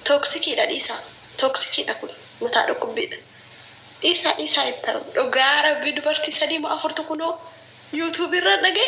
Tooksikiidha dhiisaa. Tooksikiidha kun mataa dhukkubbiidha. Dhiisaa dhiisaa hin ta'u. Dhugaa rabbii dubartii sadii moo afurtu kunoo yuutuubii irraa dhaga'e.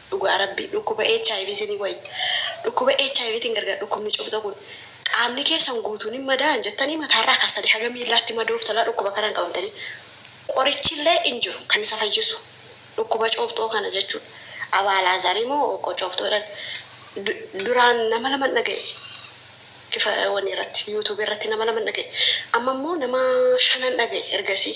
Dhugaa rabbii dhukkuba hiv sini wayya dhukkuba hiv tin gargar dhukkubni cuphxa kun qaamni keessan guutuun hin madaa'an jettanii mataarraa kaastanii haga miillaatti madooftalaa dhukkuba kanaan qabamtanii qorichillee hin jiru kan isa fayyisu dhukkuba cuuphxoo kana jechuudha Abaa Alaazaari moo Obboo Cuuphxoo jedhan duraan nama laman dhaga'e ifa wani irratti youtube irratti nama laman dhaga'e amma immoo nama shanan dhaga'e ergasii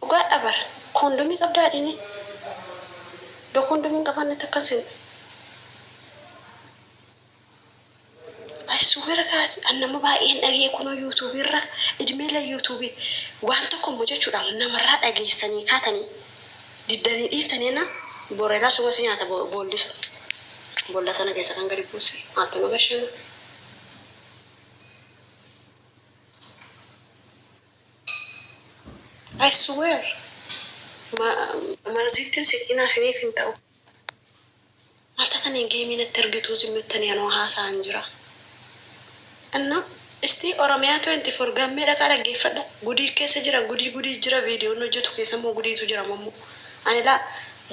Dhugaadhaa bar kondomii qabdaa adini do kondomii hin qabaanne natti akka hin senne I swear God an nama baay'een dhagee kunoo YouTube irra idmee la YouTube waan tokko mo jechudha namarraa dhageessanii kaatanii diddanii dhiiftanii enna bor edaa suma si nyaata boolli sun bolla sana keessa kan gadi buuse maaltu nu gashee mo. I swear marziittin siqiinaa isiniif hin ta'u maal tatanii geemii natti ergituu zim jettanii anoo haasa'aan jiraa inna istii oromia 24 gammee dhaqaa dhaggeeffadha gudii keessa jira gudii gudii jira viidiyoon hojjetu keessa immoo gudiitu jira mammo ani laa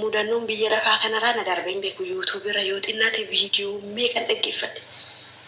mudannoon biyya lafaa kanaraa na darbee hin beeku youtube irra yoo xinnaate viidiyoo meeqan dhaggeeffadhe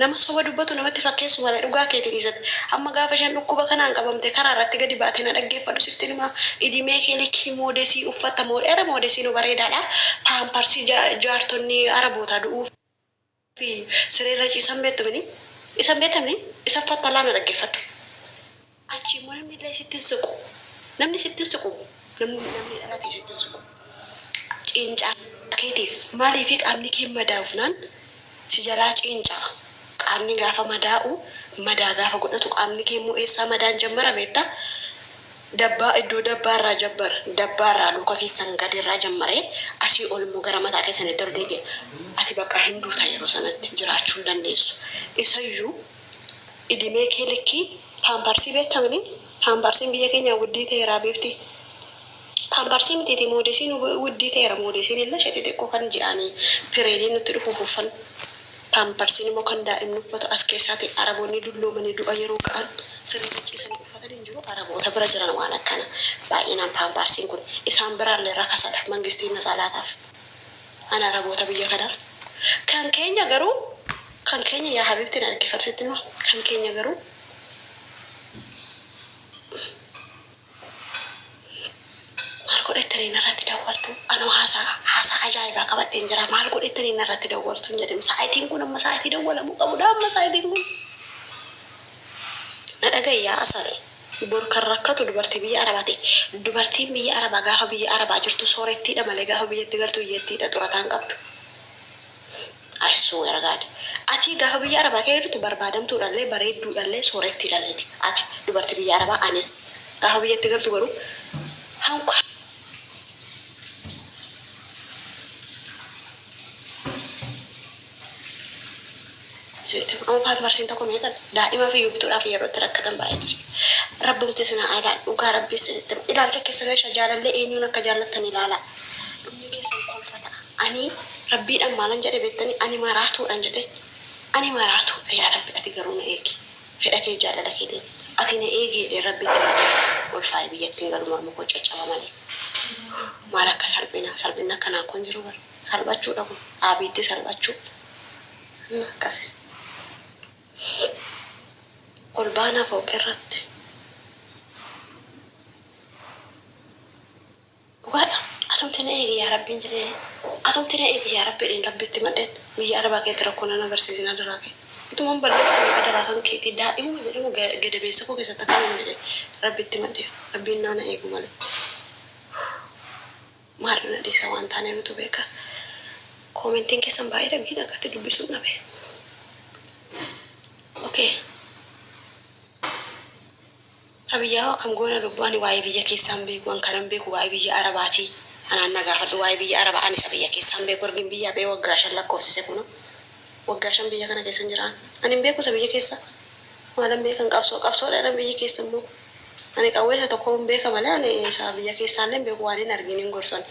Nama soba dubbatu namatti fakkeessu malee dhugaa keeti dhiisate. Amma gaafa isheen dhukkuba kanaan qabamtee karaa irratti gadi baate na dhaggeeffadhu sittin hima. Idimee kee likkii moodesii uffatta moodheera moodesiinu bareedaadha. Paamparsii jaartonni arabootaa du'uuf fi sireerra ciisan beektu mini? Isa hin beektan mini? Isa uffatta laa na dhaggeeffadhu. Achii immoo namni illee sitti hin siqu. Namni sitti hin siqu namni namni dhalate sitti hin siqu. Ciincaa keetiif maaliifi qaamni kee madaa'ufnaan si jalaa ciinca'a. Qaamni gaafa madaa'u madaa gaafa godhatu qaamni kee immoo eessaa madaan jammara beekta? Dabbaa iddoo dabbaa irraa jammara. Dabbaa irraa luka keessan gadi irraa jammaree asii ol immoo gara mataa keessanitti ol deebi'a. Ati bakka hin duuta yeroo sanatti jiraachuu hin dandeessu. Isayyuu idimee kee likkii Paamparsii beektamani paamparsiin biyya keenyaa wuddii ta'eera habiibti paamparsii mitiiti moodesiin wuddii ta'eera moodesiin illee ishe xixiqqoo kan ji'aani pireediin nutti dhufuuf uffan paamparsiin immoo kan daa'imni uffatu as keessaati araboonni dulloomanii du'a yeroo ga'an sirritti ciisanii uffatan hin jiru araboota bira jiran waan akkana baay'inaan paamparsiin kun isaan biraallee rakasadha mangistiin natsaa laataaf. An araboota biyya kanaa Kan keenya garuu Kan keenya yaa habibti na dhaggeeffadhu sitti hima Kan keenya garuu Maal godha jettanii narratti dawwaltu anoo haasaa haasaa ajaa'ibaa qabadheen jira maal godha jettanii narratti dawwaltu hin jedhin sa'atiin kun amma sa'atii dawwalamuu qabudha amma sa'atiin kun na dhaga'i yaa asal Bor kan rakkatu dubartii biyya arabati dubartiin biyya araba gaafa biyya araba jirtu soorettiidha malee gaafa biyyatti galtu hiyyettiidha xurataa hin qabdu I swear God atii gaafa biyya araba kee jirtu barbaadamtuudhallee bareedduudhallee soorettiidhalleeti ati dubarti biyya araba anis gaafa biyyatti galtu garuu hanku Asitti kun Uufaat marsiin tokko meeqa daa'ima fi yubtuudhaaf yeroo itti rakkatan baay'eetu jira. Rabbumti isin haa ilaalu dhugaa rabbii isinitti hima ilaalcha keessan irra jaalallee eenyuun akka jaallattan ilaalaa dhumni keessan kolfa ta'a. Ani rabbiidhaan maalan jedhe beektanii ani maraatuudhan jedhe ani maraatuudha yaa rabbi ati garuu na eegi fedha keef jaalala keetiin ati na eegi jedheen rabbitti himate ulfaa'e biyyattiin galu mormi koo caccaba malee maal akka salphina salphinni akkanaa kun jiru bar salphachuudha kun dhaabiitti salphachuu Amma akkasi. Ol baanaa fooqirratti. Dhugaadha. Atumti na eegi yaa Rabbiin jedhee. Atumti na eegi yaa Rabbi jedheen Rabbitti himadheen. Biyya Arabaa keessatti rakkoo nan agarsiisin adaraa kee. Utuman balleessine adaraa kan keetii. Daa'imuma jedhamu gadameessa koo keessatti akkanan jedhee Rabbitti himadheera. Rabbiin naa na eegu malee. Maal na dhiisa waan taane nutu beeka Commentin keessan baay'ee dha gin akkatti dubbisuun dhabe ok Abiyyaa hoo akkam goona lubbu ani waa'ee biyya keessaa hin beeku wan kanan beeku waa'ee biyya arabaati anaan na gaafadhu waa'ee biyya araba ani isa biyya keessaa hin beeku ergin biyyaa ba'ee waggaa shan lakkoofsise kunoo waggaa shan biyya kana keessan jira ani hin beeku isa biyya keessaa maalan beekan qabsoo qabsoo dha jedhan biyyi keessan moo Ani qawwee isa tokkoo hin beeka malee ani isa biyya keessaallee hin beeku waan hin argiin hin gorsan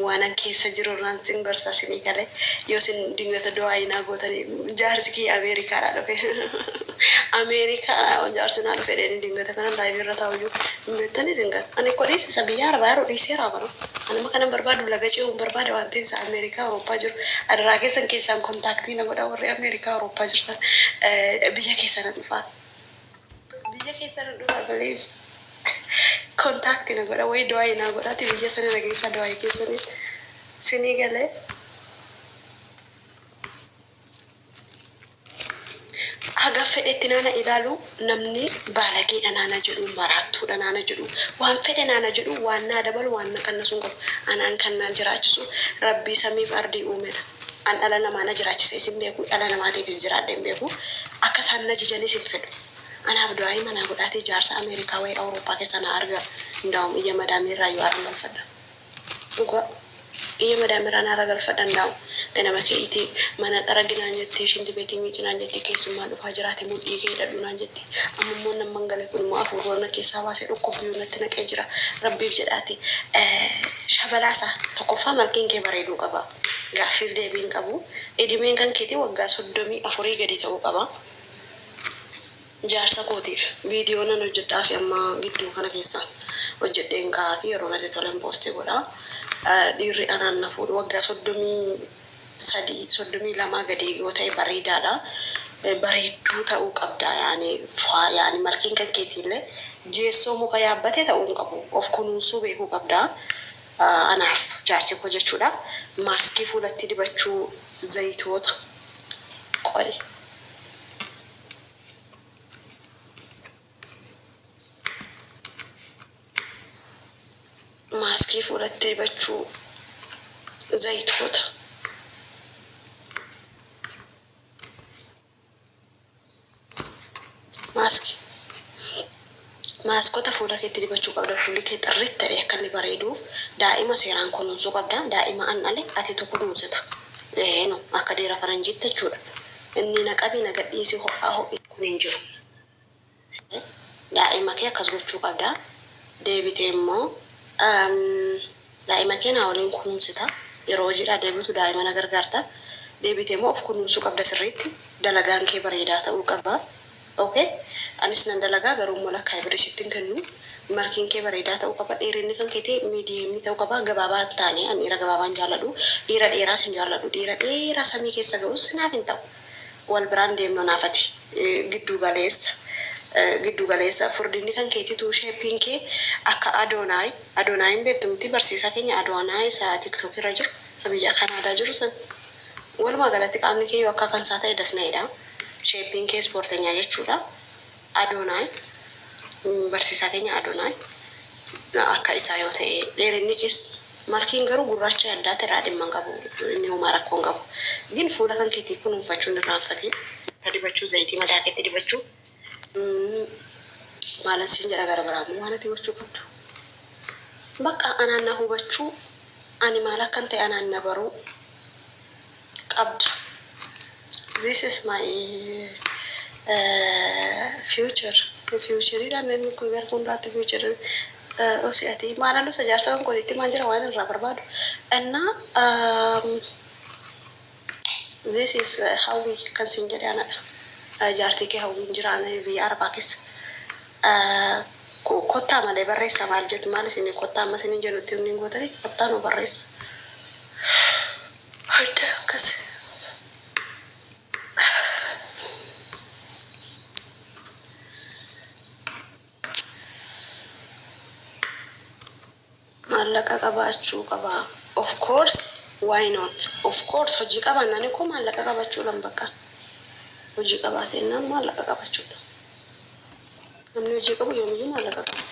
waanan keessa jiru irraan sin gorsa isinii galee yoo isin dingata du'aayii naa gootanii jaarsi kiyya Ameerikaadhaa dhufe Ameerikaadhaa jaarsi naa dhufe jedheenii dingata kanan live irra taa'u iyyuu hin beektanii isin gala ani koo dhiisi isa biyya arabaa jiru dhiiseeraa kunoo ani amma kanan barbaadu laga ce'uun barbaada waan ta'eef isa Ameerikaa Awurooppaa jiru adaraa keessan keessaan kontaaktii na godhaa warri Ameerikaa Awurooppaa jirtan biyya keessan nan dhufaa. Biyya keessa nu dura balees contact na godha wayi du'ayi naa godhati biyya sani na geessaa du'ayi keessani sini gale haga fedhetti naa na ilaalu namni baalageedha naa na jedhu maraattuudha naa na jedhu waan fedhe naa na jedhu waan naa dabalu waan na qannasu hin qabu anaan kan naa jiraachisu rabbii samiif ardii uumedha. An dhala namaa na jiraachisees hin beeku, dhala namaatiifis jiraadhee hin beeku. Akka isaan na ajajanis hin fedhu. Anaaf du'aa'ii manaa godhaatii jaarsa Ameerikaa wayii Awurooppaa keessaa naa argaa. Indaawum iyya madaamii irraa iyyuu haaran galfadha. Dhugaa. Iyya madaamii irraa naara galfadha indaawum. Ganama ke'iitii, Mana xaragi naan jetti, shinti beetii miici naan jetti, keessummaan dhufaa jira ati mudhii kee hidhadhu naan jetti. Amma immoo nan mangale kun immoo afuurroo na keessaa baasee dhukkubbiyuu natti naqee jira. Rabbiif jedhaatii. Shabalaa isaa. Tokkoffaa malkiin kee bareeduu qaba. Gaaffiif deebii hin qabu. Idimeen kan keetii waggaa 34 gadi ta'uu qaba. Jaarsa kootiif viidiyoo nan hojjedhaafi amma gidduu kana keessa hojjedheen kaa'aafi yeroo natti tolen poosti godha. Dhiirri anaan na fuudhu waggaa 33, 32 gadi yoo ta'e bareedaadha. Bareedduu ta'uu qabda yaani faa yaani martiin kan keetiillee jeessoo muka yaabbate ta'uu hin qabu. Of kunuunsuu beekuu qabda. Anaaf jaarsi koo jechuudha. Maaskii fuulatti dibachuu zayitoota qoy. Maaskii fuulatti dibachuu zayitoota. Maaskii. Maaskota fuula keetti dibachuu qabda fuulli kee xirrit ta'e akka inni bareeduuf daa'ima seeraan kunuunsuu qabda daa'ima an dhale atitu kunuunsita ee no akka deera faranjiitti jechuudha innii na qabii na gadhiisii ho'aa ho'isii kun hin jiru. Siree, Daa'ima kee akkas gochuu qabda. Deebitee immoo daa'ima kee naa waliin kunuunsita. Yeroo hojiidhaa deebitu daa'ima na gargaarta. Deebitee immoo of kunuunsuu qabda sirriitti. Dalagaan kee bareedaa ta'uu qaba. Ok? Anis nan dalagaa garuu immoo lakkaa'ee birrii sitti hin kennu. Malkiin kee bareedaa ta'uu qaba. Dheerinni kan keetii medium ta'uu qaba. Gabaabaa hin taane. Ani dhiira gabaabaa hin jaalladhu. Dhiira dheeraas hin jaalladhu. Dhiira dheeraa samii keessa ga'us naaf hin ta'u. Wal biraan deemnu naaf ati. Gidduu galeessa Gidduu galeessa Furdinni kan keetituu Shaping kee akka Adonai Adonai hin beektu mitii barsiisaa keenya Adonai isa tiktok irra jiru isa biyya Canada jiru san Walumaa galatti qaamni kee yoo akka kansaa ta'e das na jedhaa Shaping kee ispoortenyaa jechuudha. Adoonaay, Barsiisaa keenya Adoonaay, akka isaa yoo ta'e, dheerinni kees, Markiin garuu gurraacha addaatti irraa dhimma hin qabu, inni homaa rakkoo hin qabu. Gin fuula kan keetii kunuunfachuu hin irraanfatiin. Itti dibachuu, zayitii mataa keetti dibachuu, maalan siin jedha gara biraa immoo waan ati gochuu qabdu, baqqa anaan na hubachuu, ani maal akkan ta'e anaan na baruu, qabda this is my future future dha namni kun gara fuulduraatti future osi ati maala lusa jaarsa kan koo itti maan jira waan irraa barbaadu anna this is hawwi kan sin jedhe anadha jaartii kee hawwiin jiraana biyya arbaa keessa kottaa malee barreessa maal jettu maal isin kottaa amma isin jedhutti inni gootanii kottaa nu barreessa Arda akkas Maallaqa qabaachuu qaba of course why not of course hojii qabaannaan ikoo maallaqa qabachuudhan bakka hojii qabaateennaan maallaqa qabachuudha namni hojii qabu yoomiyyuu maallaqa qaba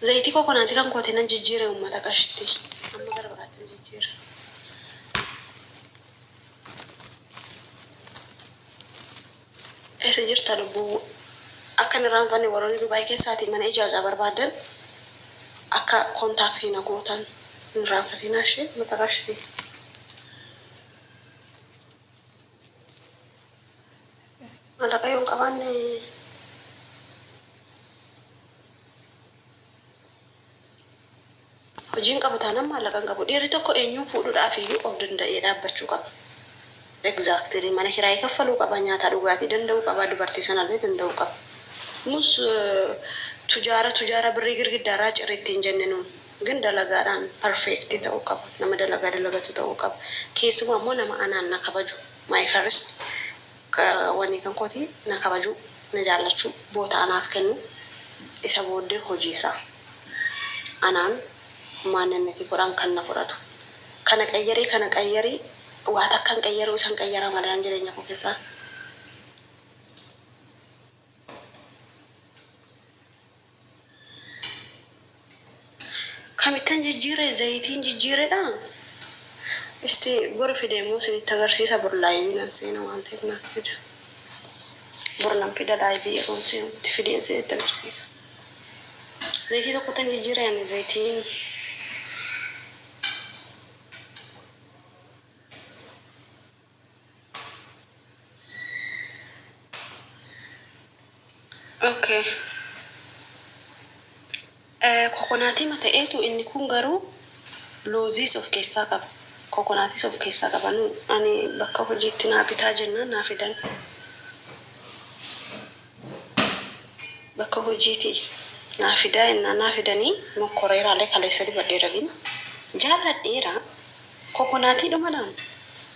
Zayitii kokonaatii kan kootii nan jijjiire uummata qashtii. Amma gara biraattin jijjiira. Eessa jirta lubbuu? Akka hin irraanfanne warroonni Dubaay keessaatii mana ijaajaa barbaaddan akka kontaaktii na gootan hin irraanfatinaa ishee uummata qashtii. Mallaqa yoo hin qabaanne hojii hin qabu taanaan maallaqa hin qabu. Dhiirri tokko eenyuun fuudhuudhaaf iyyuu of danda'ee dhaabbachuu qaba. Exactly mana kiraayii kaffaluu qaba, nyaataa dhugaatii danda'uu qaba, dubartii sanallee danda'uu qaba. Nus tujaara tujaara birrii girgiddaarraa ciri ittiin jenne nuun. Gan dalagaadhaan perfect ta'uu qaba. Nama dalagaa dalagatu ta'uu qaba. Keessumaa immoo nama anaan na kabaju, my first wanii kan kooti na kabajuu, na jaallachuu, boota anaaf kennuu, isa booddee hojii isaa anaan maanninnitii godhaan kan na fudhatu. Kana qayyarii kana qayyarii waa takka hin qayyaruu isan qayyaraa malee an jireenya koo keessaa. Kamittan jijjiire zayitiin jijjiiredha isti boru fide immoo isinitti agarsiisa bor live nan seena waan ta'eef naaf fida bor nan fida live yeroon seenutti fideen isinitti agarsiisa zayitii tokkottan jijjiire ani zayitiin Okay. Eh, kokonaatii ma ta'eetu inni kun garuu looziis of keessaa qaba. Kokonaatis of keessaa qaba. Nu ani bakka hojiitti naa bitaa jennaan naa fidan. bakka hojiitii naa fidaa yennaa naa fidanii mokkoreeraalee kaleessa dubadhee ragin jaalladheera kokonaatii dhumadhaan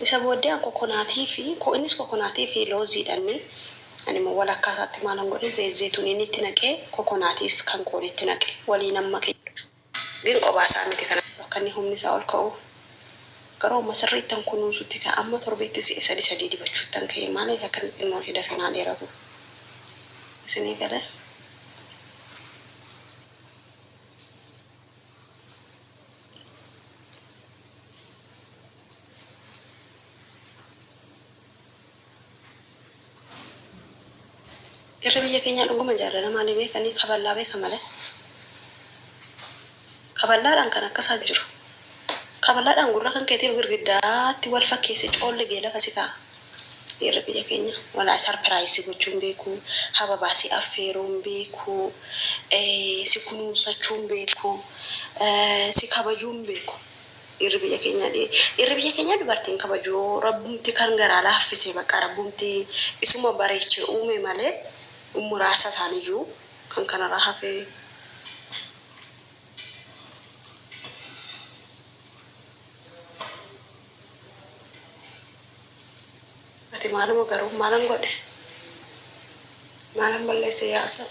isa booddee an kokonaatii fi ko innis kokonaatii fi loozii dhannee ani immoo walakkaa isaatti maalan godhe zeyit zeytuniinii itti naqee kokonaatiis kan koonii itti naqe waliinan make jechuudha. Gin qobaa isaa miti kan. Akka inni humni isaa ol ka'uuf garuu amma sirriittan kunuunsutti ka'e amma torbeetti si'a sadii sadii dibachuuttan ka'e maaliif akka inni xinnoo ishee dafee naa dheeratuuf isinii galee. Dhirri biyya keenyaa dhuguma jaalala maalii beeka? Ni kaballaa beeka malee. Kaballaadhaan kan akkasaa hin jiru. Kaballaadhaan gurra kan keetiif girgiddaatti wal fakkeessee coolligee lafa si kaa'a. Dhirri biyya keenyaa walaay sarpiraayiz si gochuu hin beeku, hababaa si affeeruu hin beeku, si kunuunsachuu hin beeku, si kabajuu hin beeku. Dhirri biyya kenyaa dhirri biyya kenyaa dubarti hin kabaju rabbumti kan garaa laaffise baqa rabbumti isuma bareeche uume male muraasa isaaniyu kan kanara hafe Ati maaluma garuu maalan godhe maalan balleesse yaa asal.